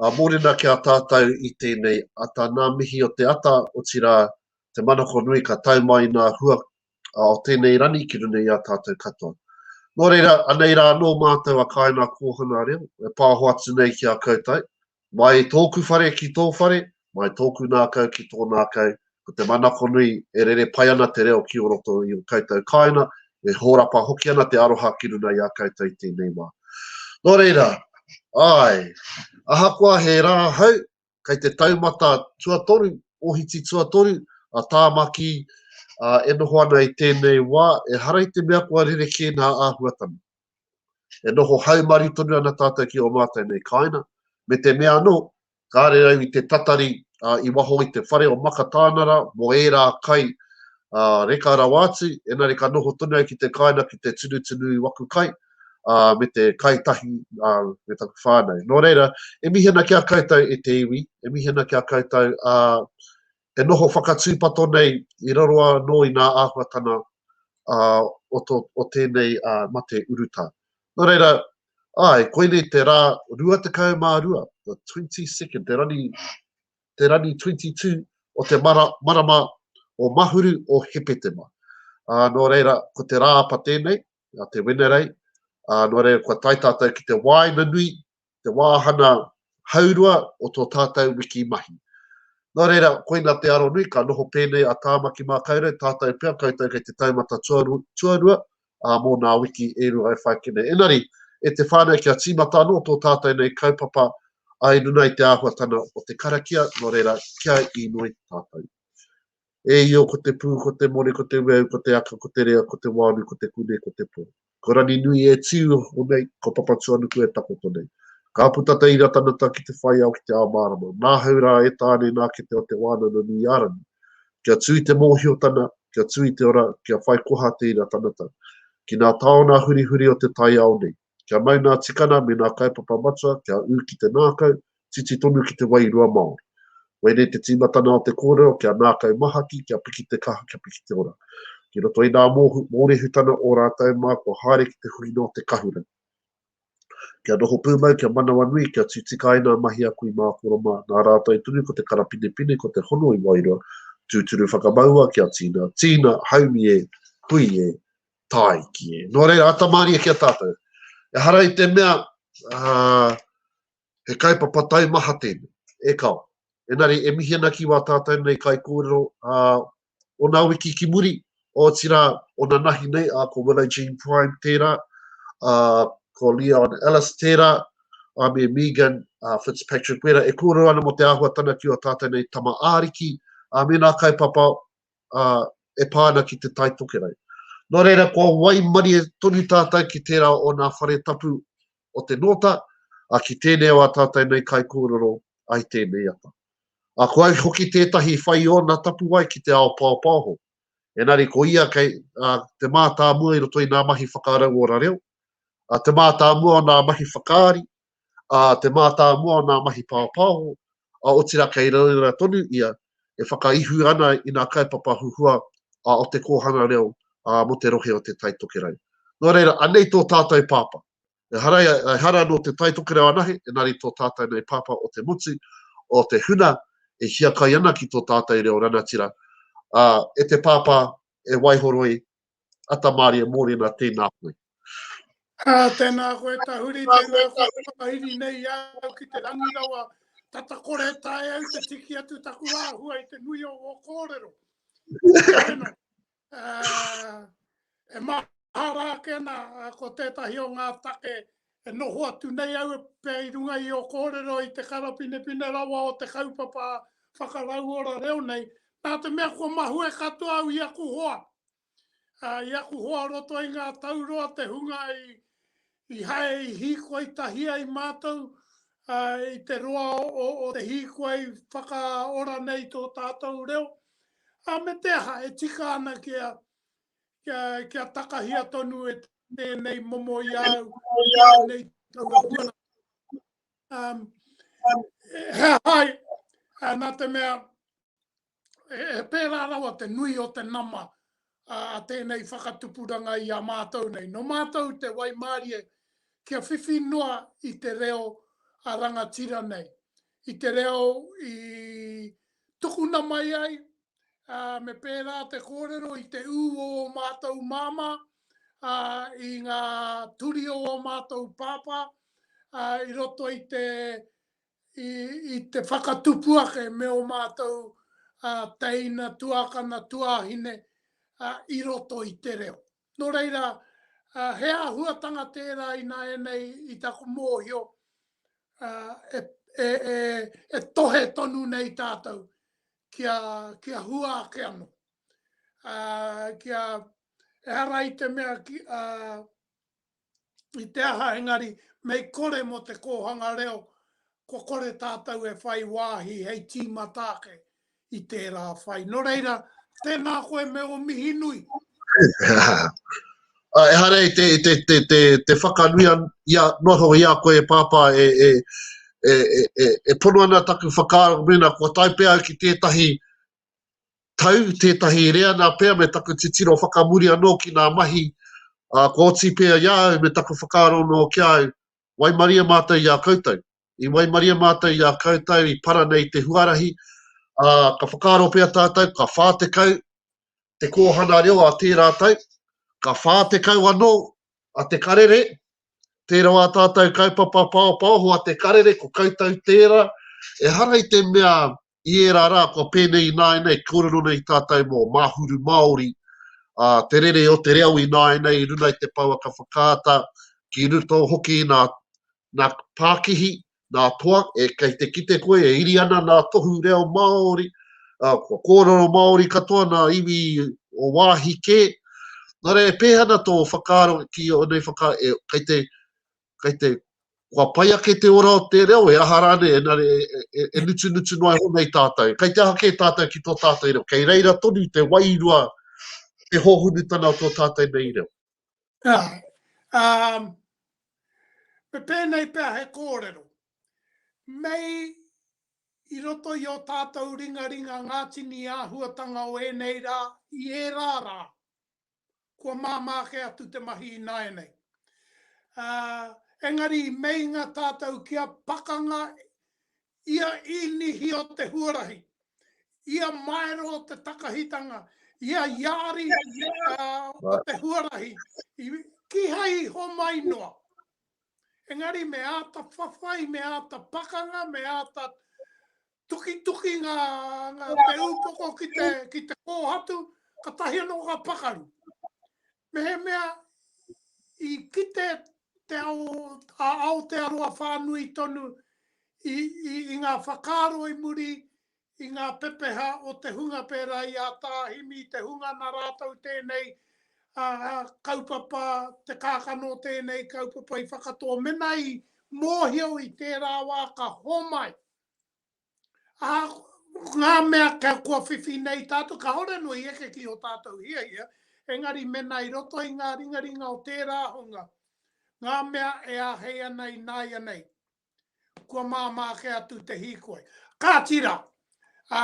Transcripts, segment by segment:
Ā, mōrena ki a tātou i tēnei ata nā mihi o te ata, otirā, te manako nui ka tae mai nā hua o tēnei rani ki runga i a tātou katoa. Nō reira, anei rā anō mātou a Kāina Kōhanga Reo e pāho atu nei ki a koutou, mai i tōku whare ki tō whare, mai tōku nākau ki tō nākau, ko te manako nui e rere pai ana te reo ki o roto i o koutou kāinga, e hōrapa hoki ana te aroha ki runa i a koutou i tēnei wā. Nō reira, āe, ahakoa he rā hau, kei te taumata tuatoru, ohiti tuatoru, a Tāmaki ā, e noho ana i tēnei wā, ehara i te mea kua rerekē ngā āhuatanga. E noho haumaru tonu ana tātou ki ō mātou nei kāinga, me te mea anō, kāre au i te tatari i waho i te whare o Makatānara mō ērā kai reka rawa atu, engari ka noho tonu au ki te kāinga ki te tunutunu i waku kai, ā, me te kai tahi me taku whānau. Nō reira, e mihi ana ki a koutou e te iwi, e mihi ana ki a koutou, ā, e noho whakatūpato nei i raro anō i ngā āhuatanga o tēnei mate urutā. Nō reira, āe, koinei te rā 22, the 22nd, te rani, te rani 22 o te mara, marama o Mahuru o Hepetema. Ā, nō reira, ko te rāapa tēnei, a te Wenerei, ā, nō reira kua tae tātou ki te wāina nui te wāhana haurua o tō tātou wiki mahi. Nō reira, koina te aro nui, ka noho pēnei a Tāmaki Mākaurau, tātou pea koutou kei te taumata tuarua, ā, mō nā wiki e rua e whai kene. Engari, e te whānau kia tīmata anō tō tātou nei kaupapa ai runga i te āhuatana o te karakia, nō reira, kia inoi tātou. E Io ko te pū, ko te more, ko te ueu, ko te aka, ko te rea, ko te wāru, ko te kune, ko te pō. Ko Raninui e tiu hoko nei, ko Papatuanuku e takoto nei. Ka puta te ira tanata ki te whaiao ki te ao mārama. Nāhau rā e Tāne nā kete o Te Wānana nui a Rani. Kia tū i te mōhiotana, kia tū i te ora, kia whai koha te ira tanata. Ki nā taona hurihuri o te taiao nei. Kia mau nā tikana me nā kaupapa matua kia ū ki te nākau, titi tonu ki te wairua Māori. Koinei te tīmatana o te kōrero kia nākau mahaki, kia piki te kaha, kia piki te ora. Ki roto i nā mōrehutana o rātou mā kua haere ki te huinga o te kahura. Kia noho pūmau, kia manawanui, kia tū tika ai nā mahi a kui mākoro mā, nā rātou tonu ko te karapinepine, ko te hono i wairua, tūturu whakamaua kia tīna, tīna, haumi e, hui e, tāiki. Nō reira, ata mārie ki a tātou. E hara i te mea, uh, he kaipapa taimaha tēnei, e kao. Enari, e mihi ana ki wā tātou nei kai kōrero uh, o nā wiki ki muri, o tira o nā nahi nei, uh, ko Willow Jean Prime tērā, uh, ko Leon Ellis tērā, a me Megan uh, Fitzpatrick Wera, e kōrero ana mo te āhuatana ki o tātou nei tama āriki, a me nā kaipapa ā, e pā ana ki Te Tai Tokerau. Nō reira, kua waimarie tonu tātou ki tērā o nā whare tapu o te Nōta, ā, ki tēnei o ā tātou nei kaikōrero ai tēnei ata. Ā, ko au hoki tētahi whai ōna tapuwae ki te ao paopaoho. Engari ko ia kei, ā, te mātāmua i roto i nā mahi whakarauora reo, ā, te mātāmua o nā mahi whakaari, ā te mātāmua o ngā mahi pāpāho, ā, otirā kei reira tonu ia e whakaihu ana i ngā kaupapa huhua ā o te kōhanga reo ā mō te rohe o Te Tai Tokerau. Nō reira, anei tō tātou pāpā. Ehara, ehara nō Te Tai Tokerau anahe, engari tō tātou nei pāpā o te motu, o te huna e hiakai ana ki tō tātou reo ranatira, ā, e te pāpā e waihoroi Atamārie Mōrena, tēnā koe. Ah, tēnā koe Tahuri, tēnā koe whakahiri nei au ki te rangi rawa. Tata kore tae au te tiki atu taku āhua i te nui o wō kōrero. Tēnā, uh, e mahara ake ana, uh, ko tētahi o ngā take E noho atu nei au pea i runga i ō kōrero i te karapinepine rawa o te kaupapa whakarauora reo nei, nā te mea kua mahue katoa au i aku hoa, ā, i aku hoa roto i ngā tau roa te hunga i hae i hīkoi tahi ai mātou, ā, i te roa o te hīkoi whakaora nei tō tātou reo, ā, me te aha, e tika ana kia kia takahia tonu e tēnei momo i au, i au nei taura huana. Um, he hai, nā te mea, he, he pērā rawa te nui o te nama a tēnei whakatupuranga i a mātou nei. No mātou te waimārie kia whiwhi noa i te reo a rangatira nei. I te reo i tukuna mai ai, ā, me pērā te kōrero i te ū o ō mātou māmā, ā, i ngā turi o ō mātou pāpā, ā, i roto i te, i, i te whakatupu ake me ō mātou ā, teina, tuākana, tuāhine, ā, i roto i te reo. Nō reira, he āhuatanga tērā ināianei i taku mōhio e tohe tonu nei tātou kia hua ake anō. Ehara i te mea i te aha engari mei kore mō te kōhanga reo kua kore tātou e whai wāhi hei tīmata ake i tērā whai. Nō reira, tēnā koe me ō mihi nui. Ah, ehara i te, te, te, te, te whakanui an, ia, noa tonga ia koe e pāpā e, e, e, e, e, e pono ana taku whakaaro mena kua taipea au ki tētahi tau, tētahi reanga pea me taku titiro whakamuri anō ki ngā mahi ā, kua oti pea i a au me taku whakaaro anō ki a au, waimaria mātou i a koutou. I waimaria mātou i a koutou i para nei te huarahi, ā, ka whakaaro pea tātou ka 40 te kōhana reo a tērā tau, ka 40 anō a Te Karere, tērā wā tātou kaupapa paopaoho a Te Karere, ko koutou tērā, ehara i te mea I ērā rā kua pēnei ināianei e kōrero ana i tātou mō Māhuru Māori, ā, te rere o te reo ināianei i runga i te pouaka whakaata, ki roto hoki i nā, nā pākihi, nā toa, e, kei te kite koe e iri ana nā tohu reo Māori, ā, kua kōrero Māori katoa nā iwi o wāhi kē. Nō reira, e pēhana tō whakaaro ki ēnei whaka, e, kei te, kei te, kua pai ake te ora o te reo, he aha rā nei, engari e nutunutu noa iho nei tātou. Kei te aha kē tātou ki tō tātou reo? Kei reira tonu te wairua, te hōhunutanga o tō tātou nei reo? Āe. Um, me pēnei pea he kōrero. Mei i roto i o tātou ringaringa ngā tini āhuatanga o ēnei rā, i ērā rā, kua māmā kē atu te mahi ināianei. Ā, engari i meinga tātou kia pakanga ia inihi o te huarahi, ia maero o te takahitanga, ia iāri o te huarahi, kīhai i homai noa. Engari me āta whawhai, me āta pakanga, me āta tukituki ngā, ngā te ūpoko ki te, ki te kōhatu, ka tahi anō ka pakaru. Mehemea i kite te ao, a Aotearoa whānui tonu i, i, i ngā whakaaro i muri i ngā pepeha o te hunga pērā i a Tāhimi, te hunga na rātou tēnei a, a, kaupapa, te kākano tēnei kaupapa i whakatō. Mena i mōhio i tērā wā ka homai, Ā, ko ngā mea kua whiwhi nei tātou, kāore anō i eke ki ō tātou hiahia, engari mēnā i roto i ngā ringaringa o tērā hunga, ngā mea e āhei ana ināianei, kua māmā ake atu te hīkoi. Kāti rā, ā,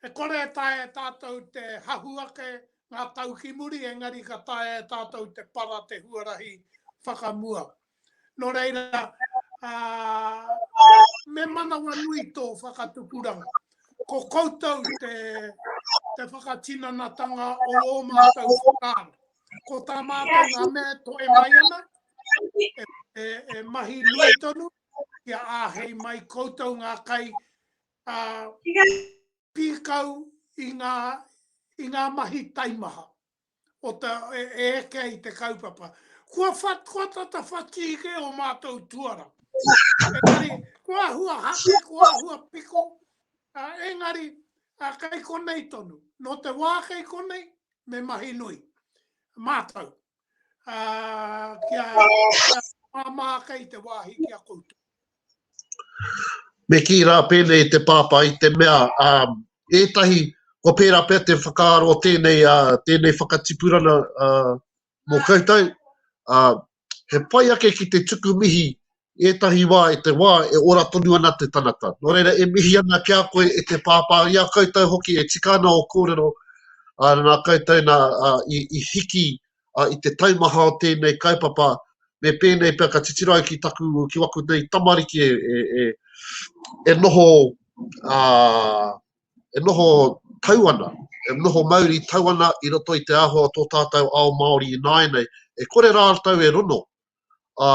e kore e taea e tātou te hahu ake ngā tau ki muri, engari ka taea e tātou te para te huarahi whakamua. Nō reira, me manawa nui tō whakatupuranga. Ko koutou te, te whakatinanatanga o ō mātou whakaaro. Ko tā mātou ngā mea to e mai ana, e, e, e mahi nui tonu, ki a āhei mai koutou ngā kai a, pīkau i ngā, i ngā mahi taimaha. o te, e eke ai te kaupapa. Kua, what, kua tata whati ike o mātou tuara. Engari, kua hua hake, kua hua piko, uh, engari, uh, kei konei tonu. No te wā kei konei, me mahi nui. Mātou. Uh, kia, kia māmā kei te wāhi kia koutou. Me kī rā pēnei te Pāpā i te mea, ā, ētahi, kua pērā pea te whakaaro o tēnei, ā, tēnei whakatipurana, ā, mō koutou, ā, he pai ake ki te tuku mihi ētahi wā i te wā e ora tonu ana te tangata. Nō reira, e mihi ana ki a koe e te Pāpā, i a koutou hoki e tika ana ō kōrero, ā, nā koutou nā, ā, i, i hiki ā, i te taimaha o tēnei kaupapa, me pēnei pea ka titiro ai ki taku, ki waku nei tamariki e, e, e, e noho, ā, e noho tau ana, e noho mauri tau ana i roto i te āhua o tō tātou ao Māori ināianei, e kore rātou e rono, ā,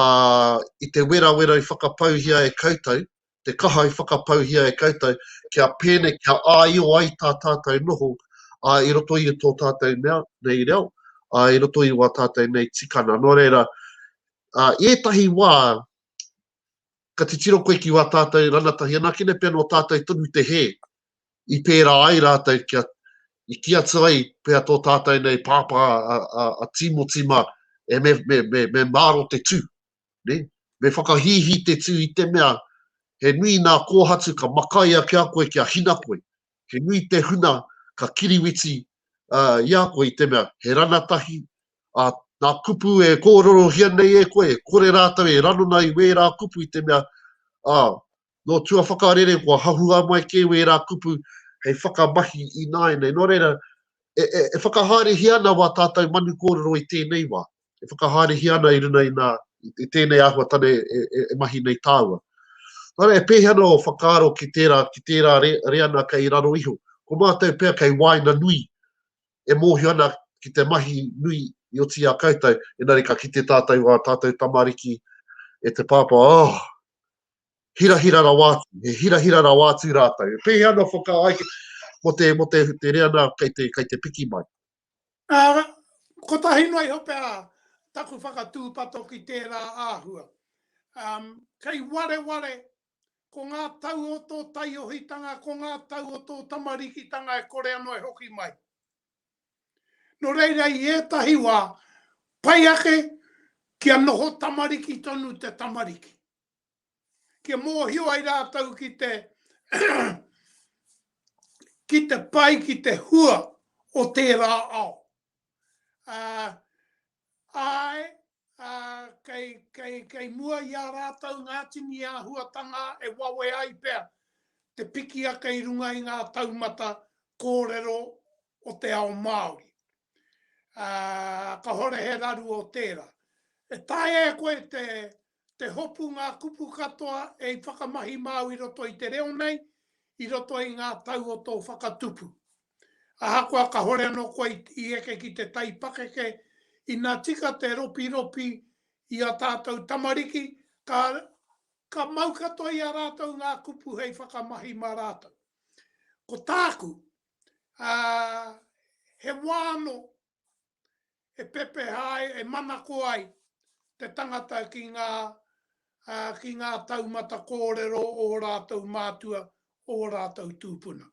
i te werawera i whakapauhia e koutou, te kaha i whakapauhia e koutou, kia pēnei, kia āio ai tā tātou noho, ā, i roto i tō tātou mea, nei reo, ā, i roto i wā tātou nei tikana. Nō reira, ā, i ētahi wā, ka titiro koe ki wā tātou ranatahi anakene pea nō tātou tonu te hē, i pērā ai rātou kia, i kī atu ai pea tō tātou nei pāpā a, a, a Tīmoti mā, e me, me, me, me māro te tū. ne, me whakahīhī te tū i te mea he nui nā kōhatu ka makai ake a koe kia hina koe, he nui te huna ka kiriwiti i a koe i te mea he rana tahi, ā, nā kupu e kōrerohia nei e koe e kore rātou e ranona i wērā kupu i te mea, ā, Nō tuawhakarere kua hahua mai kē wērā kupu hei whakamahi ināianei. Nō reira, e, e, e whakahaerehia ana wā tātou manu kōrero i tēnei wā. E whakahaerehia ana i runa i, nā, i tēnei āhuatane e, e, e mahi nei tāua. Nā reira, e pēhea ana o whakaaro ki tērā, ki tērā re, reana kei raro iho. Ko mātou pea kei wāina nui, e mōhio ana ki te mahi nui i oti a koutou, enari ka kite tātou wā tātou tamariki e te pāpā, oh, hirahira rawa atu, e hirahira rawa atu rātou. E pēhea ana whakaae ai mo te, mo te, te rea nā kei te, kei te piki mai? Uh, kotahi noa iho pea taku whakatūpato ki tērā āhua. Um, kei wareware ko ngā tau o tō taiohitanga, ko ngā tau o tō tamarikitanga e kore anō e hoki mai. Nō reira i ētahi wā, pai ake kia noho tamariki tonu te tamariki. kia mōhio ai rātou ki te ki te pai, ki te hua o tērā ao. Uh, ai, uh, kei, kei, kei mua i a rātou ngā tini āhuatanga e wawe ai pea te piki ake i runga i ngā taumata kōrero o te ao Māori. Uh, ka hore he raru o tērā. E tae e koe te, Te hopu ngā kupu katoa e i whakamahi māu i roto i te reo nei, i roto i ngā tau o tō whakatupu. Ahakoa kahore anō koe i eke ki te tai pakeke, ina tika te ropiropi i a tātou tamariki, ka, ka mau katoa i a rātou ngā kupu hei whakamahi mā rātou. Ko tāku, ā, he wā anō e pepeha ai, e manako ai te tangata ki ngā, ki ngā taumata kōrero o ō rātou mātua, o ō rātou tūpuna.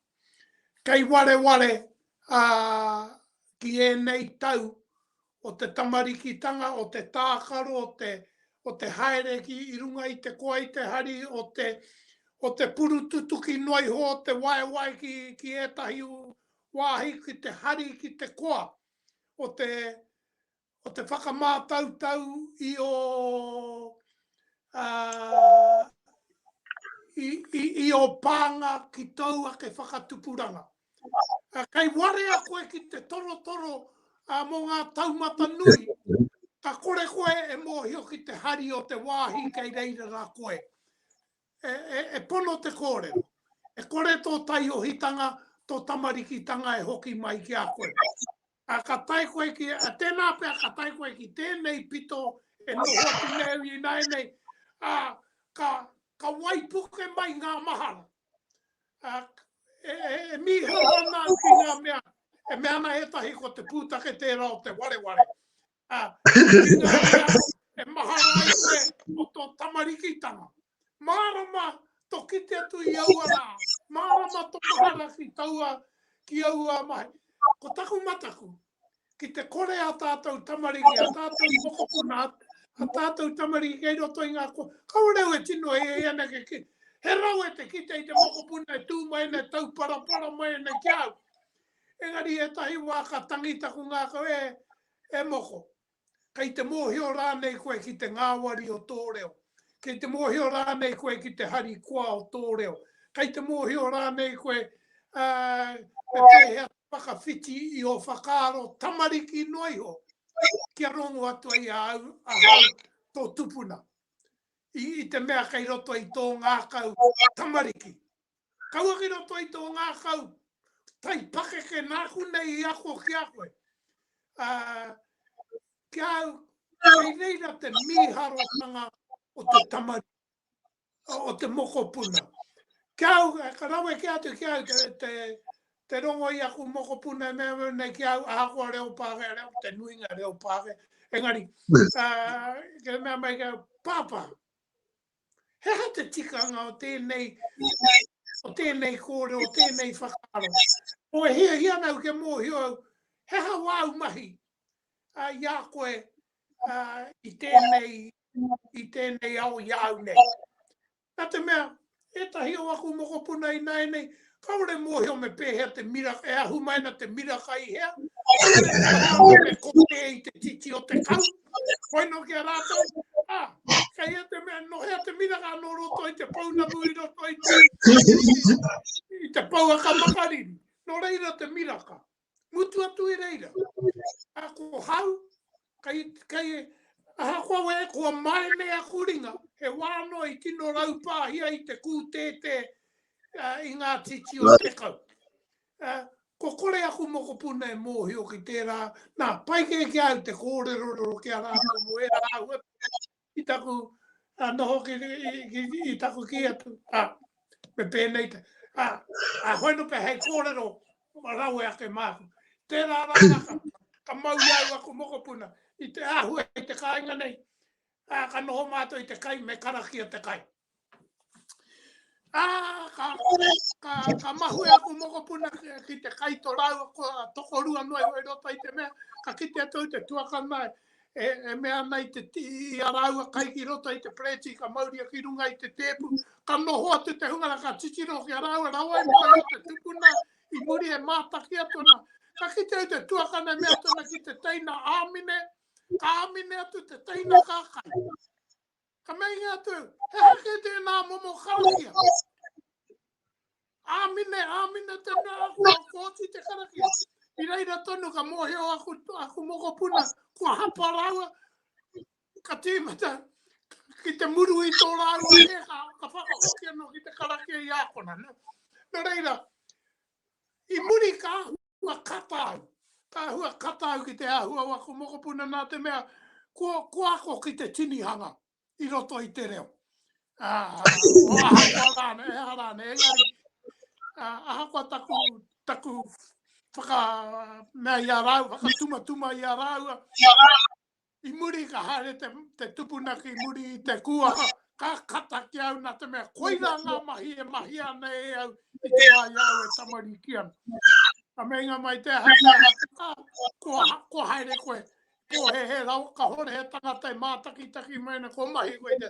Kei wareware ki ēnei tau o te tamarikitanga, o te tākaro, o te, o te haere ki i runga i te koa, i te hari, o te, o te purututuki noa iho, o te waewae ki, ki ētahi wāhi ki te hari ki te koa o te o te whakamātautau i ō i ō pānga ki tōu ake whakatupuranga. Kei warea koe ki te torotoro mō ngā taumata nui, ka kore koe e mōhio ki te hari o te wāhi kei reira rā koe. e, e, e pono te kōrero. E kore tō taiohitanga, tō tamarikitanga e hoki mai ki a koe. A ka tai koe ki, a tēnā pia ka tai koe ki tēnei pito e noho atu neu i nai nei, a ka, ka waipuke mai ngā mahara. A, e, e, e mihara ana ki ngā mea, e mea ana etahi ko te pūtake tērā o te wareware. Ha, e maha ai koe o tō tamarikitanga. Mārama to kite atu i aua rā. Mārama to mahara ki taua, ki aua mai. Ko taku mataku, ki te kore a tātou tamariki, a tātou mokopuna, a tātou tamariki kei roto i ngā kua. Kaureu e tino e e ana ke ki. He rau e te kite i te mokopuna e tū mai ana, e tau parapara mai ana ki au. Engari ētahi wā ka tangi taku ngākau e, e moko. Kei te mōhio rānei koe ki te ngāwari o tō reo? Kei te mōhio rānei koe ki te harikoa o tō reo? Kei te mōhio rānei koe, ā, me pēhea te whakawhiti i ō whakaaro tamariki noa iho kia rongo atu ai ahau, ahau tō tupuna, i, i te mea kei roto i tō ngākau tamariki? Kaua ki roto i tō ngākau tai pakeke nāku nei i ako ki a koe. Ā, ki a au, kei reira te mīharotanga o te tamariki, o te mokopuna. Ki a au, ka rawe kē atu ki a au te, te, te rongo i aku mokopuna e mea nei ki a au, ahakoa reo Pākehā, reo, te nuinga reo Pākehā. Engari, ā, kei mea mai ki a au, Pāpā, He aha te tikanga o tēnei, o tēnei kōrero, o tēnei whakaaro? Ko e hiahia ana au kia mōhio au, he aha wāu mahi a, i a koe a, i, tēnei, i tēnei ao i a au nei? Nā te mea, ētahi o aku mokopuna ināianei, Kaore mohio me pehea te mira, e ahu mai na te miraka i hea, kaore me kote i te titi o te kau, koe no ki a ratou, a, kei hea te mea, no hea te miraka no roto i te pounamu i roto i te, i te pouaka makariri, no reira te miraka. Mutu atu e reira, a ko hau, kai, kai, aha koa we, koa mai me a kuringa, he wā no i tino raupāhia i te kūtētē uh, i ngā titi o te kau. Uh, ko kore aku mokopuna e mōhio ki tērā, nā, pai kē ki au te kōrerorero ki a rātou mo e rāua, i taku noho ki, i taku ki atu. Ah, me pēnei te. Ah, ah, hoi no pe hei kōrero, ma rawe ake māku. Tērā rā rā ka, ka mau i au aku mokopuna, i te āhua i te kāinga nei. Ah, ka noho mātou i te kai, me karakia te kai. Ah, ka, ka, ka mahue aku mokopuna ki te kai to rau, ko toko rua noa i roto i te mea, ka kite atu te tuaka mai, e, e mea ana i te ti, i a rau a kai ki roto i te preti, ka mauria ki runga i te tepu, ka noho atu te hunga ra ka titiro ki a rau, a rau ai mai te tupuna, i muri e mātaki atu na, ka kite atu te tuaka nei mea tona ki te teina āmine, ka āmine atu te teina kākai. Ka meinga atu, he aha kē tēnā momo karakia? Āmine, āmine te mea kua kōti te karakia. I reira tonu ka mōhio aku, aku mokopuna, kua hapa rāua, ka tīmata ki te muru i tō rāua he ka, ka whakahoki anō ki te karakia i ākona. No, no reira, I muri ka āhua kata au. Ka āhua kata au ki te āhua o aku mokopuna nā te mea ko ako ki te tinihanga i roto i te reo. Ahakoa rānei, ehara rānei, engari ahakoa taku, taku whaka mea i a rāua, whakatumatuma i a rāua, I muri ka haere te tupuna ki muri i te kuaha, ka kata ki au na te mea koira nga mahi e mahia ana e au i te wa i a au e tamariki ana. Ka meinga mai te aha te aha, ah, kua haere koe, pōhēhē rawa, kahore he tangata e mātakitaki mai ana, kua mahi koe i te,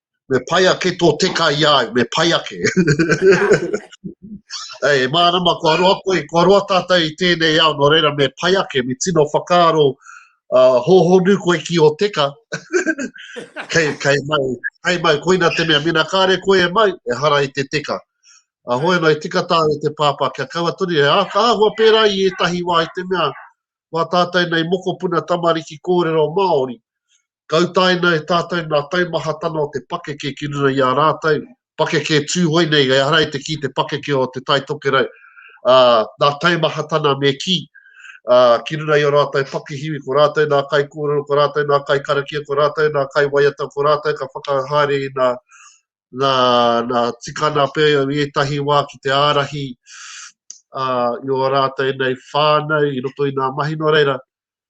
Me pai ake tō teka i a au, me pai ake. Hei, e mārama, kua roa koe, kua roa tātou i tēnei ao, nō reira me pai ake, me tino whakaaro uh, hōhonu koe ki o teka. kei, kei mau, kei mau, koina te mea, mena kāre koe e mau, e hara i te teka. A hoi anō, e tika tā e te pāpā, kia kaua toni, e āka āhua pērā i ētahi wā i te mea, wā tātou nei mokopuna tamariki kōrero Māori, Ka utaina e tātou ngā taumahatanga o te pakeke ki runga i ā rātou pakeke Tūhoe nei, ehara i te kī te pakeke o Te Tai Tokerau, ā, ngā taumahatanga me kī, ā, ki runga i ō rātou pakihiwi, ko rātou ngā kaikōrero, ko rātou ngā kaikarakia, ko rātou ngā kaiwaiata, ko rātou ka whakahaere i ngā. nā, nā tikana pea i ētahi wā ki te ārahi uh, i o rātou nei whānau i roto i ngā mahi no reira.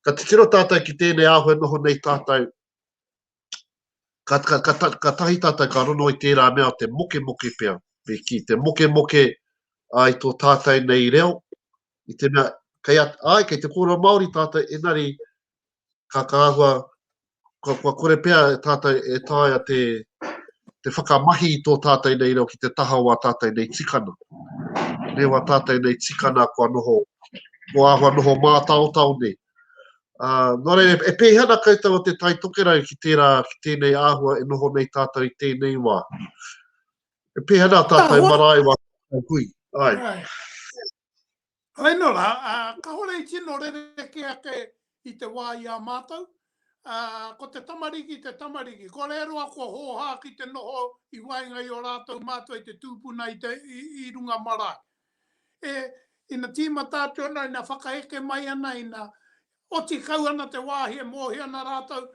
Ka titiro tātou ki tēnei āhua noho nei tātou. Ka, ka, ka, ka, ka tahi tātou ka rono i tērā mea o te moke moke pea. Me ki te moke moke ai tō tātou nei reo. I te mea, kei, at, ai, kei te kōrero Māori tātou, enari ka āhua, kua kore pea tātou e taea te, te whakamahi i tō tātou nei reo ki te taha o ā tātou nei tikana. Reo ā tātou nei tikana kua noho, kua āhua noho mātaotao nei. Uh, nō reira, e pēhi ana koutou o te tai tokerau ki tērā, ki tēnei āhua e noho nei tātou i tēnei wā. E pēhi ana tātou marae wā tātou hui. Ai. Ai. Hei no ra, kahore i tino rerekē ake i te wā i a mātou. Ko te tamariki, te tamariki. Ko re roa kua hōhā ki te noho i waenga i o rātou mātua i te tūpuna i runga marae. E, ina tīmata atu ana, ina whakaeke mai ana, ina oti kau ana te wāhi e mōhio ana rātou,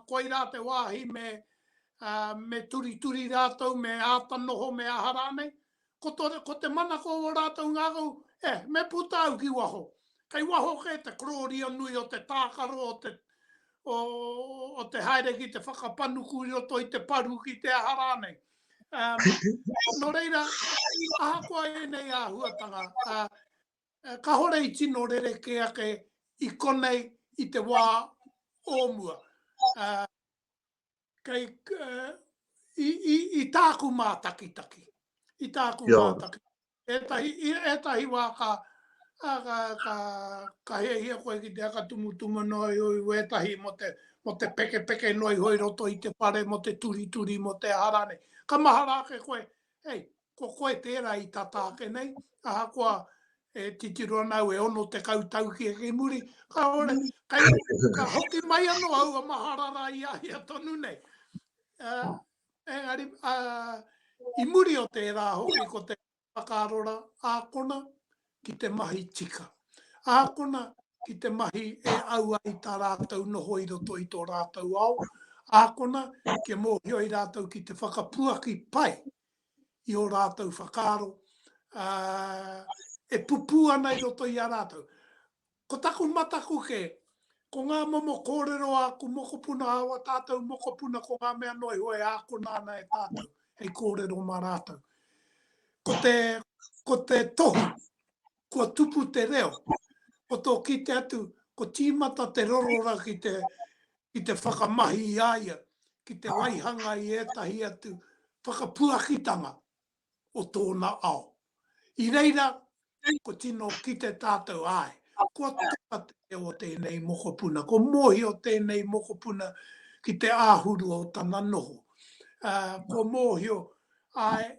koirā te wāhi me turituri rātou, me āta noho, me aha rānei. ko to, ko te manako o rātou ngākau, e, me puta au ki waho. Kei waho kē te korōria nui o te tākaro, o te, o, o te haere ki te whakapanuku i roto i te paru ki te aha rānei. Um, no reira, ahakoa ēnei āhuatanga, uh, Eh, ka hore i tino rere ke ake i konei i te wā o mua. Uh, kei, i, i, i tāku mātakitaki. I tāku yeah. mātakitaki. Ētahi, ētahi wā ka, a, ka, ka, ka heahia koe ki te akatumutumu noi ui wētahi mo te, mo te peke peke noi hoi roto i te pare mo te turi turi mo te harane. Ka mahara ake koe, hei, ko koe tērā i tata ake nei, ahakoa e titiro ana au e ono tekau tau ki ki muri, kāore, kei, ka hoki mai anō aua mahara rā i a ia tonu nei. Uh, engari, uh, i muri o tērā hoki ko te whakaarora ākona ki te mahi tika. Ākona ki te mahi e au ai tā rātou noho i roto i tō rātou ao, ākona kia mōhioi rātou ki te whakapuaki pai i ō rātou whakaaro, ā, e pupū ana i roto i a rātou. Ko taku mataku kē, ko ngā momo kōrero a aku mokopuna, a ō tātou mokopuna, ko ngā mea noa iho e ākona ana e tātou hei kōrero mā rātou. Ko te, ko te tohu, kua tupu te reo, ko tō kite atu, ko tīmata te rorora ki te, ki te whakamahi i a ia, ki te waihanga i ētahi atu whakapuakitanga o tōna ao. I reira, ko tino kite tātou, āe, kua tika te reo o tēnei mokopuna, kua mōhio tēnei mokopuna ki te āhuru o tana noho. Kua mōhio, āe,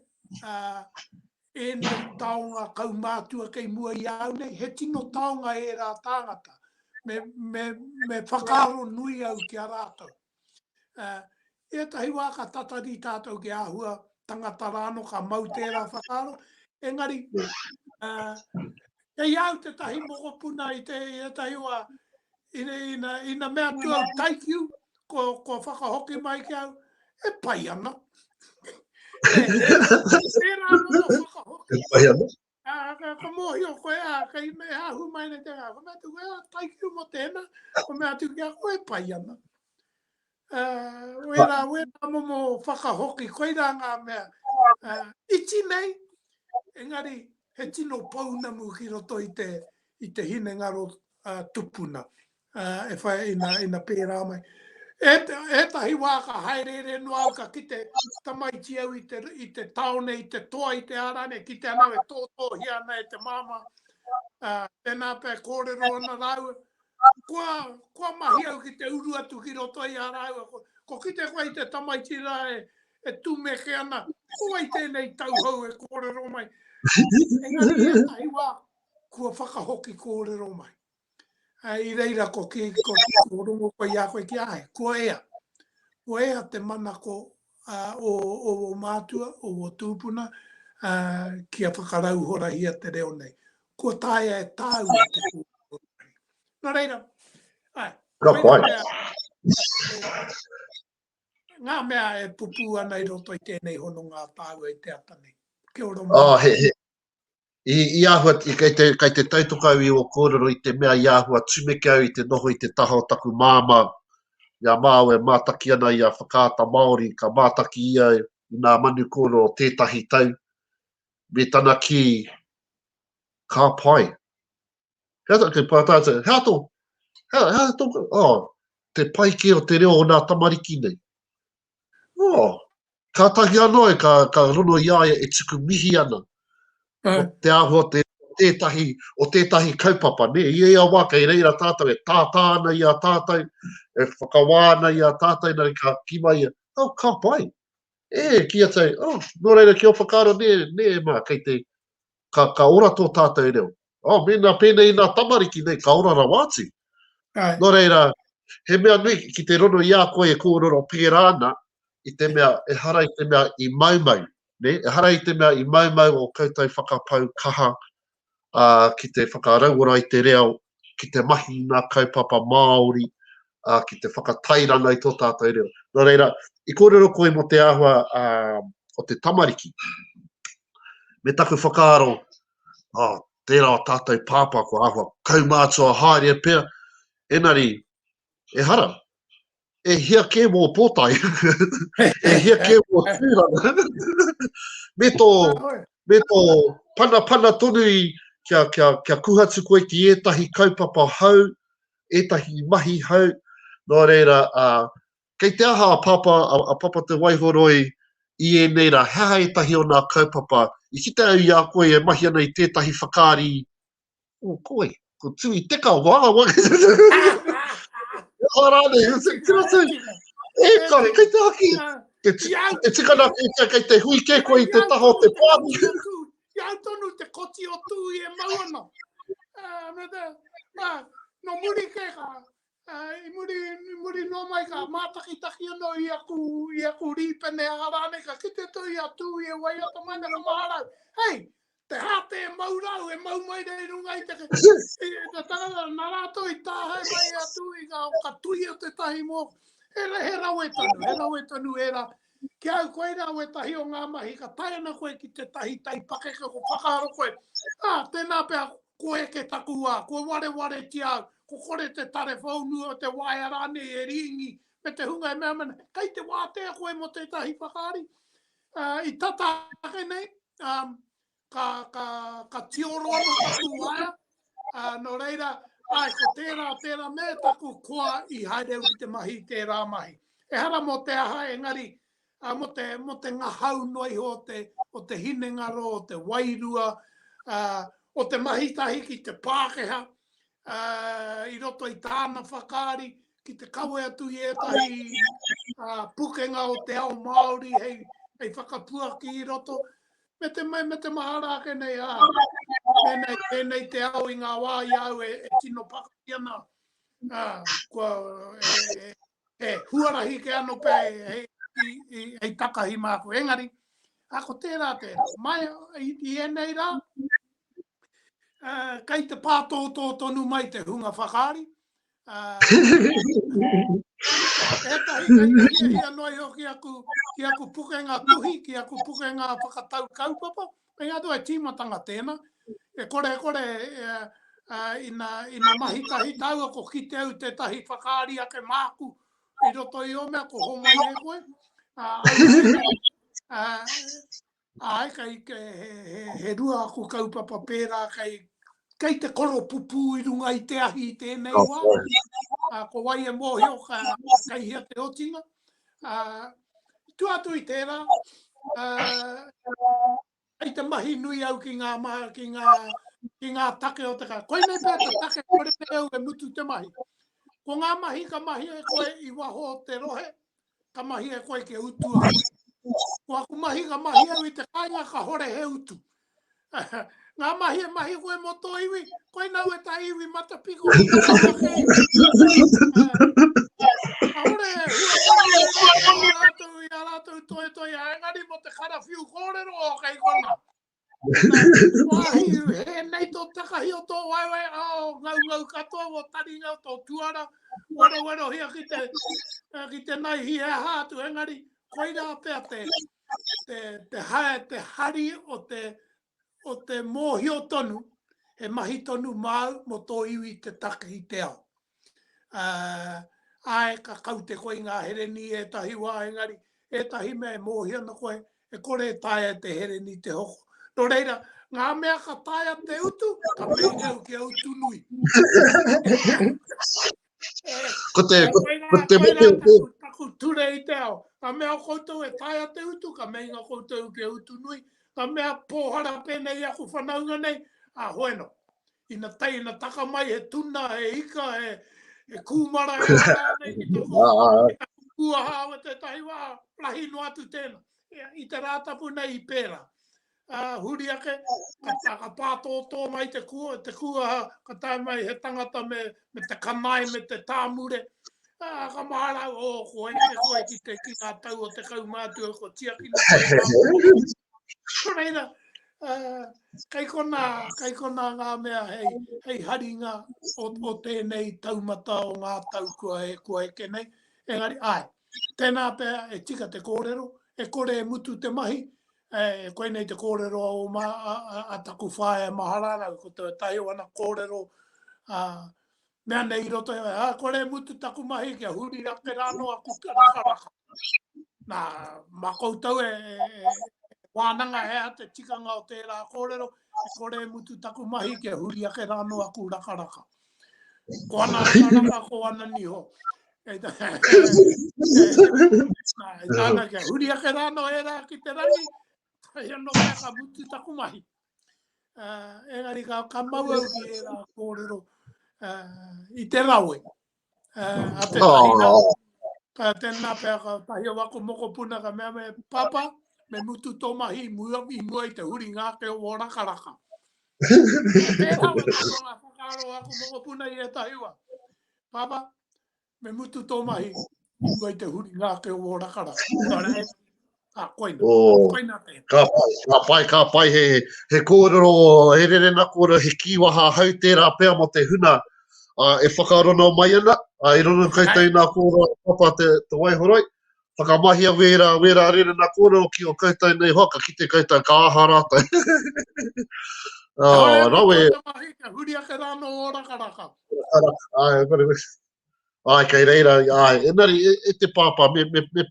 ēnei taonga kaumātua kei mua i a au nei, he tino taonga ērā tāngata. Me, me, me whakaaro nui au ki a rātou. Uh, ētahi wā ka tatari tātou ki āhua tangata rāno ka mau tērā whakaaro. Engari, uh, kei au te tahi mokopuna i te i te tahi wā, ina, ina, ina mea tu au taikiu, kua whakahoki mai ki au, e pai ana. e, e, e pai ana. Ah, ka ka mo hi o koe a ka i me ha hu mai ne te ka me tu ga tai ki mo te na ko me atu ki a koe pai ana eh we ra we ra mo mo fa ka ho ki koe ra nga me eh iti nei engari he tino pau na mu ki ro to i te i te hine nga ro tupuna e whai ina, ina pērā mai. E, e tahi wā ka haereere noa au ka kite tamaiti au i te, i te taone, i te toa, i te arane, ki te anau e tōtōhi ana e te māma. Uh, tēnā pē kōrero ana rāua. Kua, kua mahi au ki te uru atu ki roto i a rāua. Ko, ko kite koe i te tamaiti rā e, e tūmeke ana. Ko wai tēnei tauhou e kōrero mai. Engari e tahi wā kua whakahoki kōrero mai. I reira ko ki ko rongo koe i a koe ki a ai, kua ea. Kua ea te manako o ō mātua, o ō tūpuna kia whakarauhorahia te reo nei. Kua taea e tāua te kōrero. Nō reira, ai. Ka pai. Ngā mea e pupū ana i roto i tēnei hononga a tāua i te ata nei. Kia ora. Oh, he, he. I āhua, kei te tautoko au i ō kōrero i te mea i āhua tumeke au i te noho i te taha o taku māmā i a Māo e mātaki ana i a Whakaata Māori, ka mātaki ia i nā manu kōrero o tētahi tau, me tana kī, Ka pai. Hea tā, kei pā tātou, hea tō, hea, hea tō, oh, te pai kē o te reo o nā tamariki nei. Oh, kātahi anō e ka, ka rono i a ia e tuku mihi ana. Mm. O te āhua te, tētahi, o tētahi kaupapa, ne? I ea wā kei reira tātou e tātā ana i a tātou, e whakawā ana i a tātou, nari ka ki mai ia, oh, ka pai. E, ki a tau, oh, nō reira ki o whakaaro, nē, nē, mā, kei te, ka, ka ora tō tātou reo. Oh, mēnā pēnei nā tamariki nei, ka ora rawa atu. Ai. Nō reira, he mea nui ki te rono i a koe e kōrero pērā ana, i te mea, e hara i te mea i maumau, ne? e hara i te mea i maumau o koutou whakapau kaha uh, ki te whakarauora i te reo, ki te mahi i ngā kaupapa Māori, ā, ki te whakatairanga i tō tātou reo. Nō reira, i kōrero koe mō te āhua ā, o te tamariki, me taku whakaaro, ā, tērā o tātou pāpā ko āhua kaumātua haere pea, enari, e hara, e hia kē mō pōtae, e hia kē mō tūranga, me tō, me tō panapana tonu i kia, kia, kia kuhatu koe ki ētahi kaupapa hau, ētahi mahi hou, nō reira, ā, kei te aha a Pāpā, a Papa Te Waihoroi i ēnei rā, he aha ētahi o nā kaupapa, i kite au i a koe e mahi ana i tētahi whakaari, o, ko wai, ko Tui Teka, wā, wā, he aha rānei, he rātou, e kare, kei te aha ki, e tika ana kei te hui kē koe i te taha o te pāmu. Ki au tonu te koti o tū i e mau ana. Uh, me te, uh, no muri ke ka, uh, i muri, i muri no mai ka mātakitaki ano i aku, i aku rīpene a rāne ka kite tō i a tū i e wai ata mai na ka maharau. Hei, te hāte e mau rau, e mau mai rei runga i te ke. Te tarara, nā rātou i tāhai mai a tū i ka, ka tui o te tahi mō. He, he rawe tonu, he rawe tonu e rā. Ki a au koe rā wētahi o ngā mahi ka tae ana koe ki tētahi tai pakeke ko whakaaro koe, ā, tēnā pea ko eke taku wā, kua warewaretia au, ko kore te tare whaunu o te waea rānei e rīngi me te hunga e mea mana, kei te wātea koe mō tētahi whakaari. I tata ake nei, ka, ka, ka tioro anu ka tū aia. Uh, no reira, ai, ko tērā, tērā me taku koa i haere au ki te mahi, tērā mahi. E hara mō te aha, engari, uh, mō, te, mō te ngahau noa iho o te, o te hinengaro, o te wairua, uh, o te mahi tahi ki te Pākeha, uh, i roto i tāna whakaari, ki te kawe atu i ētahi uh, pukenga o te ao Māori hei, hei whakapuaki i roto. me te mai, me te mahara ake nei, ā, pēnei, pēnei te ao i ngā wā i a au e, e tino pakari ana, ā, kua, e, e, e huarahi ke ano pē hei, i, i, hei takahi māku. Engari, a ko tērā tērā, mai i, i enei rā, uh, kai te pātōtō tonu mai te hunga whakaari, Ētahi kei te hiahia noa iho ki aku, ki aku pukenga tuhi, ki aku pukenga whakatau kaupapa, hei atu ai tīmatanga tēnā, e kore e kore ina, ina mahi tahi tāua ko kite au tētahi whakaari ake māku i roto i ō mea ko homai e koe, Āe, kei, he, he rua aku kaupapa pērā, kei, kei te koropupū i runga i te ahi i tēnei wā. Ā, ko wai e mōhio, ka, kei hea te otinga. Ā, tu atu i tērā, ā, kei te mahi nui au ki ngā, mā, ki ngā, ki ngā take o te kai. Koinei pea te take kore au e mutu te mahi. Ko ngā mahi ka mahi e koe i waho o te rohe, ka mahi e koe kia utu au. Ko aku mahi ka mahi au i te kainga ka hore he utu. Ngā mahi e mahi koe mō tō iwi, koe nau e tā iwi matapiko. Ka hore e hua mōre i a rātou, i a rātou toi toi, a engari mō te karawhiu kōrero o kei kona. Wāhīu, hēnei tō takahi o tō waewae ao, ngaungau katoa wō taringa o tō tuara, werowerohia ki te, eh, ki te naihi he aha atu, engari, koirā pea te, te, te, hae, te hari o te, o te mōhio tonu, he mahi tonu māu mō tō iwi te takahi te ao. Ae, ka kaute koe i ngā hereni ētahi wā, engari, ētahi mea e mōhio ana koe, e kore e taea te hereni i te hoko. Nō reira, ngā mea ka taea te utu, ka meinga au kia utu nui. Ko te, ko, ko te motu o te... Taku ture i te ao. Ka mea o koutou e tae a te utu, ka mei nga koutou ke utu nui. Ka mea pōhara pēnei aku whanaunga nei, a hoeno. Ina tai, ina taka mai he tuna, he ika, he, he kūmara, he tāne, ki te kua, ki te kua hāwa te tahi wā, rahi no atu tēnā. I te rātapu nei i pērā. Uh, huri ake, ka, tā, ka pātō tō mai te kua, te kua, ka tā mai he tangata me, me te kanai, me te tāmure. Uh, ka māra, o, oh, ko hei te koe ki te ki ngā tau o te kaumātua, ko tiaki na koe. Ko reira, Uh, kei kona, kei kona ngā mea hei, hei haringa o, o tēnei taumata o ngā tau kua e, kua e kenei. Engari, ai, tēnā pēr e tika te kōrero, e kore e mutu te mahi, e, e koe nei te kōrero o ma, a, a, a taku whae e mahararau, ko te tahi o ana kōrero, a, Mea nei i roto i a kore mutu taku mahi kia huri rake rano a kuka raka raka. Na, ma koutou e, e, e, wānanga he a te tikanga o tērā kōrero, e kore mutu taku mahi kia huri ake rano a ku raka raka. Ko ana raka raka, ko ana niho. E ta, e, e, e, kia huri ake rano e rā ki te rangi, e no mea ka mutu taku mahi. Uh, engari ka, ka mau au ki ērā kōrero uh, i te rawe. Uh, a te taina, oh. uh, tēnā pēr ka tahi o wako moko puna ka mea me papa, me mutu tō mahi mua mi mua i te huri ngā ke o raka raka. Tēnā wē kōrero ngā whakaaro wako moko puna i e tahiwa. Papa, Me mutu tō mahi, i mua i te huri ngā te o rakara. Ka koina, oh, koina te. Ka pai, ka pai, ka pai, he, he kōrero, he rerena kōrero, he kīwaha hau tērā pea mo te huna, uh, e whakarono mai ana, uh, e rono koutou nā kōrero papa te, te waihoroi, Whakamahia wērā, wērā rērena kōrero ki o koutou nei hoa, ka kite koutou ka aha rātou. oh, rawe. Huri ake rā no o rakaraka. Ai, kore me. Ai, kei reira, ai, enari, e, e te pāpā, me, me, me,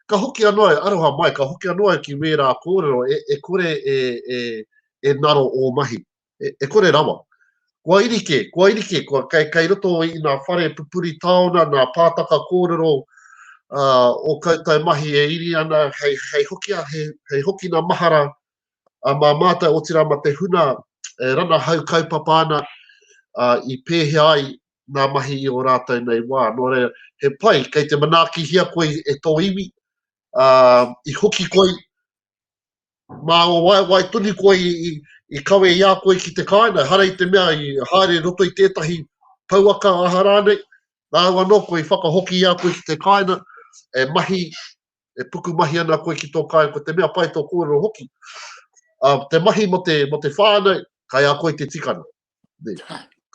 ka hoki anō ai, aroha mai, ka hoki anō ai ki wērā kōrero, e, e kore e, e, e naro o mahi. e kore rawa. Kua iri kē, kua iri kē, kua kei, kei roto i nā whare pupuri taona, nā pātaka kōrero o koutou mahi e iri ana hei, hei hoki, hei, hei hoki nā mahara a mā mātou, otirā ma te huna e rana hau kaupapa ana i pēhea ai nā mahi i o rātou nei wā. Nō reira, he pai, kei te manaakihia koe e tō iwi, i hoki koe, Mā ngā waewae tonu koe i kawe i a koe ki te kāinga, ehara i te mea i haere i roto i tētahi pouaka aha rānei, rāua anō koe i whakahoki i a koe ki te kāinga, e mahi, e pukumahi ana koe ki tō kāinga, ko te mea pai tō kōrero hoki. Te mahi mō te whānau, kai a koe te tikanga.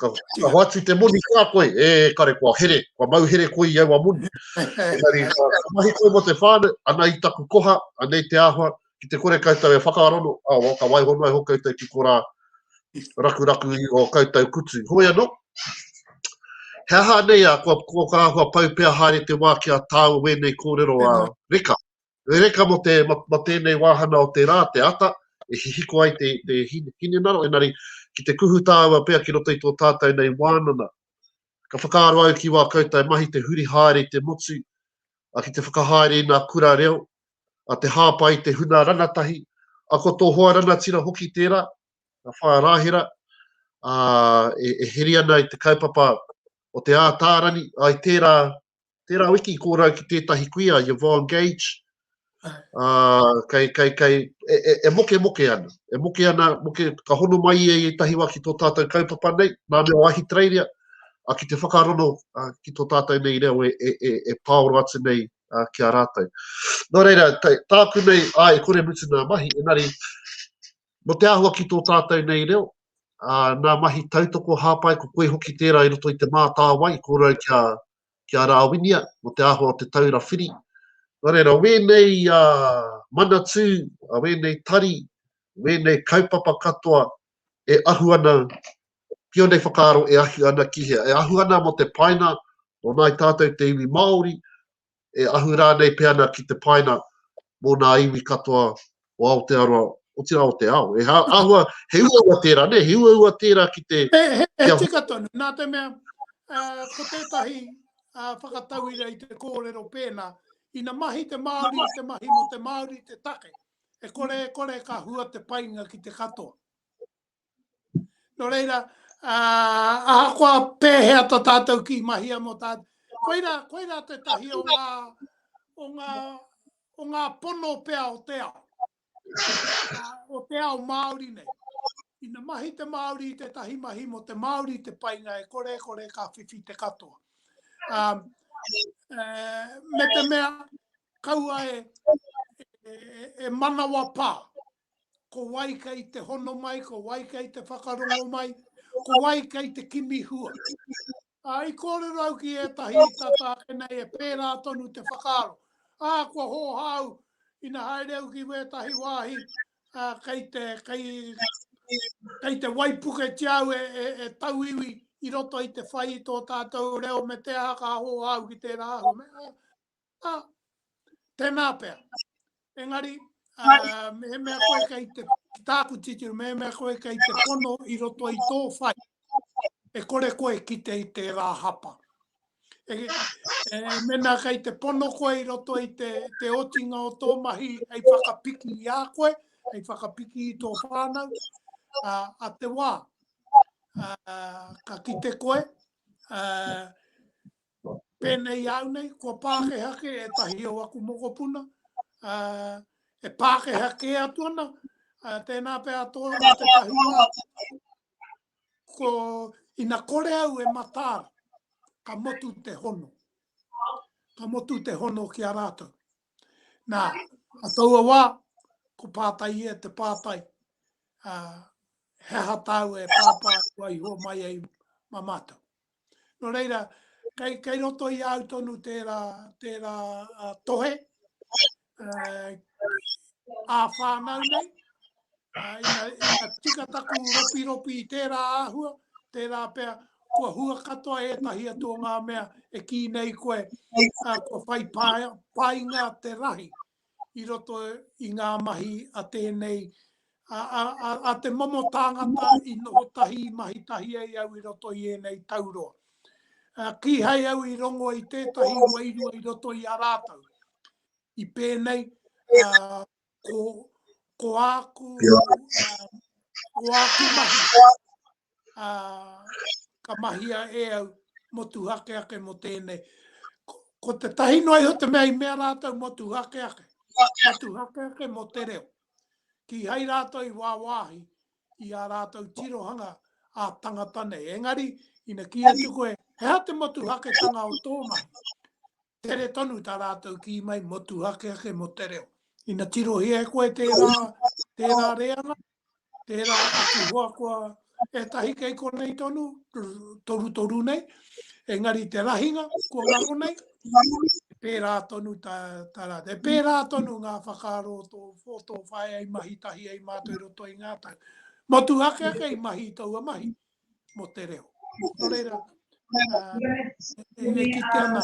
Ka, ka hoatu te moni kā koe, e kare kua here, kua mau here koe i aua moni. Engari, ka mahi koe mo te whānau, ana i taku koha, anei te āhua, ki te kore koutou e whakaarono, a, o, ka waiho noa iho koutou ki korā rakuraku i o koutou kutu. Hoi anō, he aha anei a, kua, kua ka āhua pau pea haere te wā ki a tāua wēnei kōrero a Reka? He reka mō te, mō, mō tēnei wāhana o te rā, te ata, e hihiko ai te, te hinengaro, engari, ki te kuhu tāua pea ki roto i tō tātou nei wānanga. Ka whakaaro au ki wā koutou mahi te huri haere i te motu, a ki te whakahaere i ngā kura reo, a te hāpai i te huna rangatahi, a ko tō hoa rangatira hoki tērā, a whā rāhera, a, e, e heri ana i te kaupapa o te ātārani, ai tērā tērā wiki i kōrau ki tētahi kuia, Yvonne Gage, uh, kei, kei, kei, e, e, e moke moke ana, e moke ana, moke, ka hono mai ia i ētahi wā ki tō tātou kaupapa nei, nā mea o Ahitereiria, a ki te whakarono a, ki tō tātou nei reo e, e, e, e pāoro atu nei a, ki a rātou. Nō reira, tā, tāku nei, a, e kore mutu nā mahi, enari, mo te āhua ki tō tātou nei reo, a, nā mahi tautoko hāpai, ko koe hoki tērā i roto i te mātāwai, ko rau kia, kia rāwinia mō te āhua o te taura whiri. Nō reira, wēnei manatū, wēnei tari, wēnei kaupapa katoa e ahu ana ki ōnei whakaaro e ahu ana ki hea? E ahu ana mō te painga o nāi tātou te iwi Māori, e ahu rānei pea ana ki te painga mō nā iwi katoa o Aotearoa, otirā o te ao. E ha, ahua, he uaua tērā, ne, he uaua tērā ki te... He, he, he tika tonu, nā te mea, uh, ko tētahi uh, whakatauira i te kōrero pēnā, ina mahi te Māori, te mahi mo te Māori, te take. E kore, e kore ka hua te painga ki te katoa. Nō reira, uh, ahakoa pēhea to tātou ki mahia mō tātou. Koira, koira te tahi o ngā, o ngā, o ngā pono pea o te ao. Uh, o te ao Māori nei. Ina mahi te Māori i te tahi mahi mō te Māori te painga e kore kore ka whiwhi te katoa. Um, uh, me te mea kaua e, e, e manawa pā. ko wai kei te hono mai, ko wai kei te whakarongo mai, ko wai kei te kimi hua. Ā, i kōrero au ki ētahi tata ake nei e pērā tonu te whakaaro. Ā, kua hōhā au ina haere au ki wētahi wāhi ā, kei te, kei, kei te waipuketia au e, e, e tauiwi i roto i te whai i tō tātou reo me te aha ka hōhā au ki tērā āhua. Me, Ā, tēnā pea. Engari, mehemea koe kei te tāku titiro, mehemea koe kei te pono i roto i tō whai, e kore koe ki te i te rā hapa. E, e, mena kei te pono koe i roto i te, te otinga o tō mahi, hei whakapiki i a koe, hei whakapiki i tō whānau, a, a te wā, a, ka kite koe, a, Pēnei au nei, kua Pākehā kē ētahi o aku mokopuna, e Pākehā kē atu ana, tēnā pea toa mā te tahuā, ko ina kore au e matāra, ka motu te hono. Ka motu te hono ki a rātou. Nā, a taua wā, ko pātai e te pātai, he aha tāu e pāpā kua iho mai ai ma mātou. Nō reira, kei, kei roto i au tonu tērā, tērā uh, tohe, uh, ā whānau nei, uh, ina, ina tika taku ropi ropi i tērā āhua, tērā pea, kua hua katoa e tahi atu o ngā mea e kī nei koe, uh, kua whai painga te rahi, i roto i ngā mahi a tēnei, a te momo tāngata i noho tahi, i mahi tahi ai au i roto i ēnei tauroa. Kīhai au i rongo i tētahi wairua i roto i a rātou. I pēnei, ko āku mahi, ka mahia e au motuhake ake mo tēnei. Ko te tahi noa iho te mea i mea rātou motuhake ake, motuhake ake mo te reo. Ki hai rātou i wāwāhi i a rātou tirohanga a tangata nei. Engari, ina ki atu koe, he ha te motuhake tanga o tō mahi. Tere tonu tā rātou kī mai motuhakehake mō te reo. Ina tirohia e koe tērā, tērā reanga, tērā atu hoa koa, ētahi kei konei tonu, torutoru nei, engari te rahinga kua ngaro nei, pērā tonu tā, tā rā. E pērā tonu ngā whakaaro o tō, o tō whae ai mahi tahi ai mātou roto i ngā tau. Motuhakehake i mahi i taua mahi. mō te reo. Nō reira, e me ki te ana,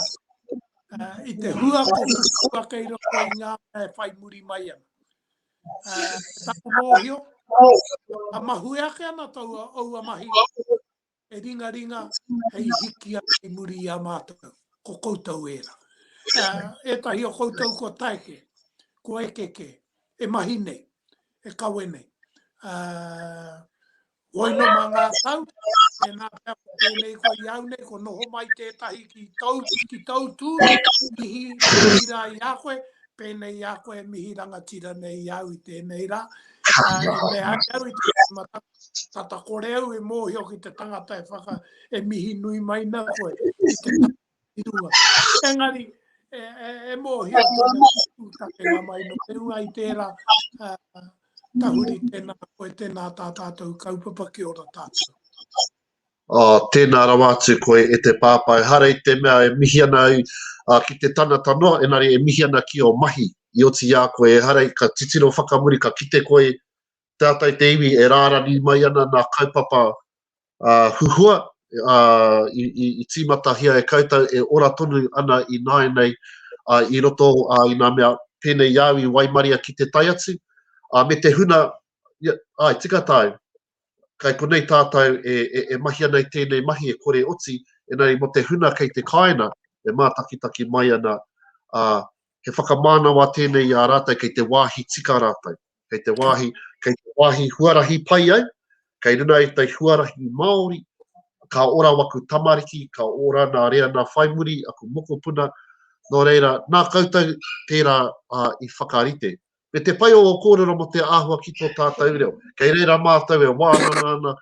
i te hua ko kua kei roko i ngā e whai muri mai ana. Tāku mōhio, a mahu e ake ana tau a oua mahi, e ringa ringa, hei hiki a kei muri i a mātou, ko koutou e ra. E tahi o koutou ko taeke, ko ekeke, e mahi nei, e kawe nei. Koino mā ngā tau, tēnā pea ko tēnei ko i au nei, ko noho mai tētahi ki tau, ki tau tū, mihi, mihi rā i a koe, pēnei i a koe, mihi rangatira nei i au i tēnei rā. Uh, e me ai au i te tata, tata kore au e mōhio ki te tangata e whaka, e mihi nui mai na koe, i te i runga. Engari, e, e, e mōhio tēnā pūtake ngā mai no te runga i tērā uh, tahuri tēnā koe, tēnā tā tātou kaupapa ki ora tātou. Oh, tēnā rawa atu koe e te pāpai. Hara i te mea e mihi ana ai uh, ki te tana tanoa, enari e mihi ana ki o mahi. I oti i a koe e hara ka titiro whakamuri, ka kite koe Te ata i te iwi e rārangi mai ana nā kaupapa huhua i tīmatahia e koutou e ora tonu ana i nāianei i roto i nā mea pēnei i a au i waimaria ki te tae atu, me te huna, āe tika tāu, kai konei tātou e mahi ana i tēnei mahi e kore oti, engari mō te huna kei te kāinga e mātakitaki mai ana, he whakamānawa tēnei i a rātou kei te wāhi tika rātou. kei te wāhi, kei te wāhi huarahi pai ai, kei runa i te huarahi Māori, ka ora waku tamariki, ka ora nā rea nā whaimuri, aku mokopuna, nō reira, nā koutou tērā uh, i whakarite. Me te pai o kōrero mo te āhua ki tō tātou reo. Kei reira mātou e wānanga ana,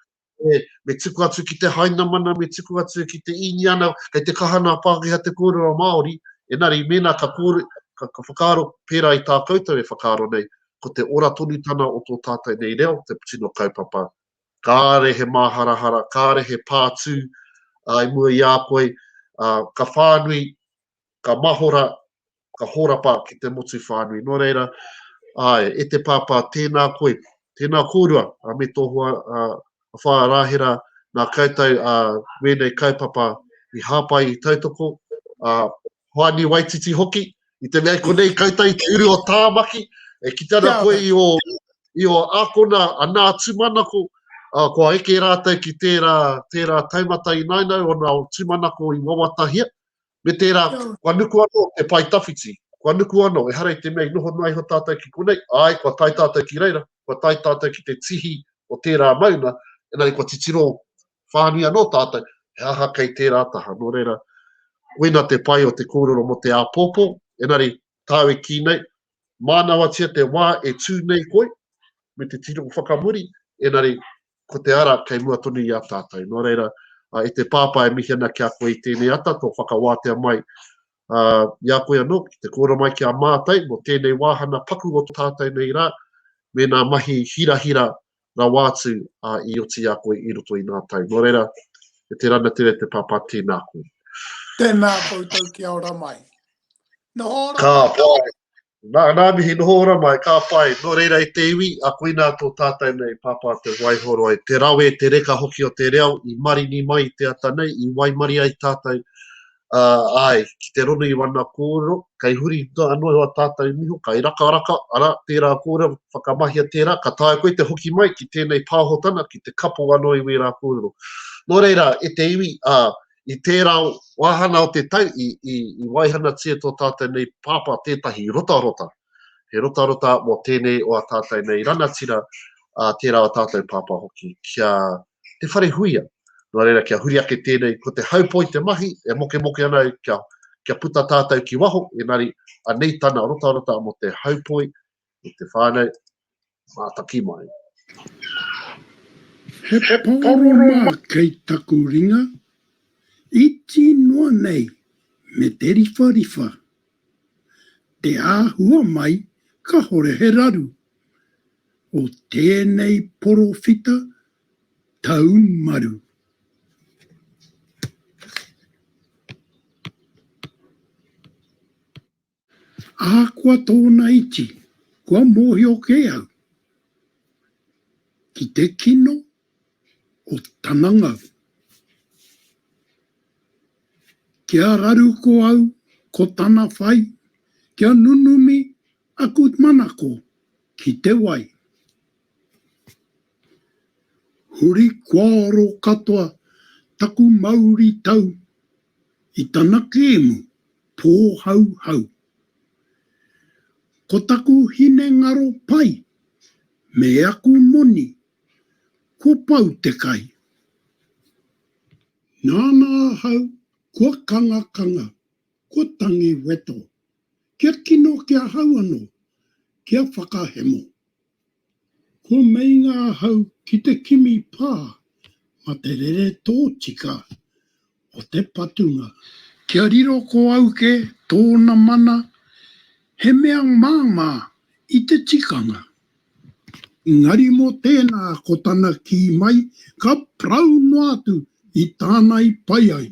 e, me tuku atu ki te Hainamana, me tuku atu ki te Īniana, kei te kaha nā Pākehā te kōrero Māori, enari mēnā ka, kōre, ka, ka whakaaro pērā i tā koutou e whakaaro nei, ko te ora tonutana o tō tātou nei reo, te tino kaupapa. Kāre he māharahara, kāre he pātū, uh, i mua i a koe, uh, ka whānui ka mahora, ka horapa ki te motu whānui. Nō reira, āe, e te Pāpā, tēnā koe, tēnā kōrua, ā, me tō hoa, ā, a Whāraahera, nā koutou, ā, wēnei kaupapa i hāpai, i tautoko, ā, Hoani Waititi hoki, i te mea i konei koutou i te uru o Tāmaki, e kite ana koe i ō, i ō ākona a Nā Tūmanako, ā, kua eke rātou ki tērā, tērā taumata inaina o nā tūmanako i wawatahia, Me tērā, kua nuku anō te pae tawhiti, kua nuku anō, ehara i te mea i noho noa iho tātou ki konei, āe, kua tae tātou ki reira, kua tae tātou ki te tihi o tērā maunga, engari kua titiro whānui anō tātou, he aha kei tērā taha. Nō reira, koina te pai o te kōrero mō te āpōpō, engari, tāu e kī nei, Mānawatia te wā e tū nei koe, me te tino whakamuri, engari, ko te ara kei mua tonu i a tātou. Nō reira, e te Pāpā e mihi ana ki a koe i tēnei ata, tō whakawātea mai i a koe anō, ki te kōrero mai ki a mātou mō tēnei wāhana paku o tātou nei rā, mēnā mahi hirahira rawa atu a i oti i a koe i roto i nga tau. No reira, e te ranatere te papa tena koe. Tena koutou kia ora mai. Noho ora ka mai. Pai. Na, na mihi, noho ora mai, ka pai. No reira e te iwi, a koina to tatou nei papa te waihoro ai. Te rawe, te reka hoki o te reo i marini mai i te ata nei, i waimari ai tatou ā, āe, ki te rono i wana kōrero, kei huri noa anō iho a tātou niho, kai rakaraka, arā, tērā kōrero, whakamahia tērā, ka taea koe te hoki mai ki tēnei pāhotana, ki te kapo anō i wērā kōrero. Nō reira, e te iwi, ā, i tērā wāhana o te tau, i, i, i waihanatia tō tātou nei pāpā tētahi rotarota. He rotarota mō tēnei o a tātou nei rangatira, ā, tērā o tātou pāpā hoki, ki a Te Wharehuia. Nō reira, kia huri ake tēnei, ko te haupoi te mahi, e mokemoke ana au kia, kia puta tātou ki waho, engari, anei tana rotarota mō te haupoi, mō te whānau, Mātaki mai. He pororoma kei taku ringa, iti noa nei me te riwhariwha. Te āhua mai kahore he raru o tēnei porowhita tau maru. Ahakoa tōna iti, kua mōhio kē au ki te kino o tana ngau. Kia raru ko au, ko tana whai, kia nunumi aku manako ki te wai. Huri kua oro katoa taku mauri tau i tana kēmu pōhauhau. Ko taku hinengaro pai me aku moni kua pau te kai. Nāna ahau kua kangakanga, kua tangi weto, kia kino ki ahau anō, kia whakahemo. Kua meinga ahau ki te kimi pā ma te rere tōtika o te patunga. Kia riro ko auke tōna mana he mea māmā i te tikanga. Engari mō tēnā ko tana kī mai ka parau noa atu i tāna i pai ai.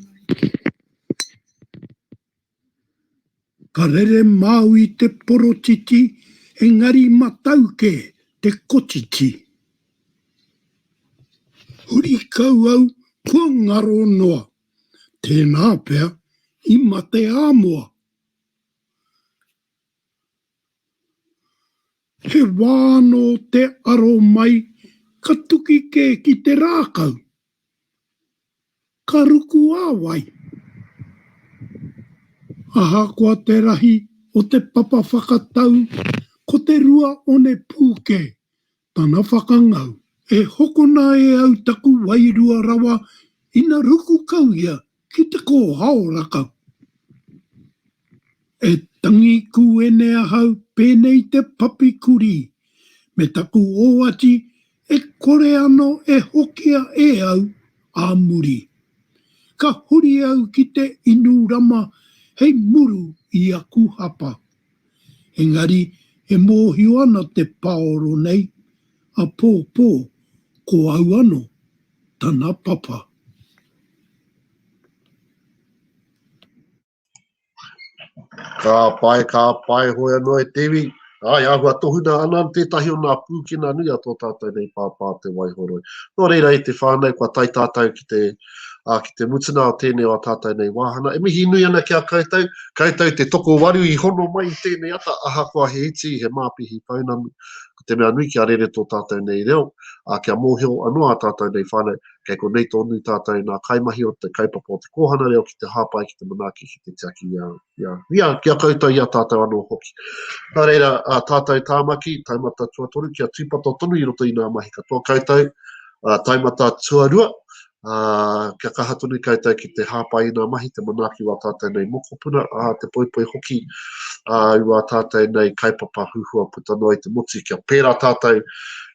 Ka rere māu i te porotiti engari matauke te kotiti. Huri kau au kua ngaro noa, tēnā pea i mate āmoa. He wā anō te aro mai ka tuki kē ki te rākau. Ka ruku a wai? Ahakoa te rahi o te papa whakatau ko te rua one pū kē tana whakangau. E hokona e au taku wairua rawa ina ruku kau ia ki te kōhao rakau. E tangi kūene ahau pēnei te papi kurī, me taku ōati e kore ano e hokia e au ā muri. Ka huri au ki te inu rama hei muru i aku hapa. Engari e mōhio ana te paoro nei, apōpō ko au ano tana papa. Ka pai, ka pai, hoi anō e te iwi, āe āhua tohunā ana tētahi o nā pūkena nui a tō tātou nei pāpā Te Waihoroi. Nō reira i te whānau kua tae tātou ki te, ā, ki te mutunga o tēnei o ā tātou nei wāhanga. E mihi nui ana ki a koutou, koutou te tokowaru i hono mai i tēnei ata ahakoa he iti, he māpihi pounamu, Ko te mea nui kia rere tō tātou nei reo, ā, kia mōhio anō ā tātou nei whānau, kei konei tōnū tātou nā kaimahi o te kaupapa o te kōhana reo ki te hāpai, ki te manaaki, ki te tiaki i a, i a, i a, ki a koutou, i a tātou anō hoki. Nā reira, ā tātou Tāmaki, taumata tuatoru, kia tūpato tonu i roto i nā mahi katoa koutou, ā, taumata tuarua, ā, kia kaha tonu koutou ki te hāpai i ngā mahi, te manaaki o ā tātou nei mokopuna, ā, te poipoi hoki ā, i wā tātou nei kaupapa huhua puta noa i te motu, kia pērā tātou,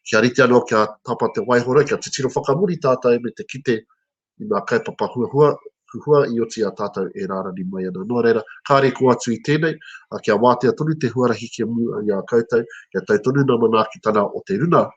kia rite anō, kia tapa te waihora, kia titiro whakamuri tātou me te kite i ngā kaupapa huhua, huhua i oti i a tātou e rārani mai ana. Nō reira, kāre i kō atu i tēnei, ā, kia wātea tonu te huarahi ki a Mū i a koutou, kia tau tonu ngā manaakitanga o te runa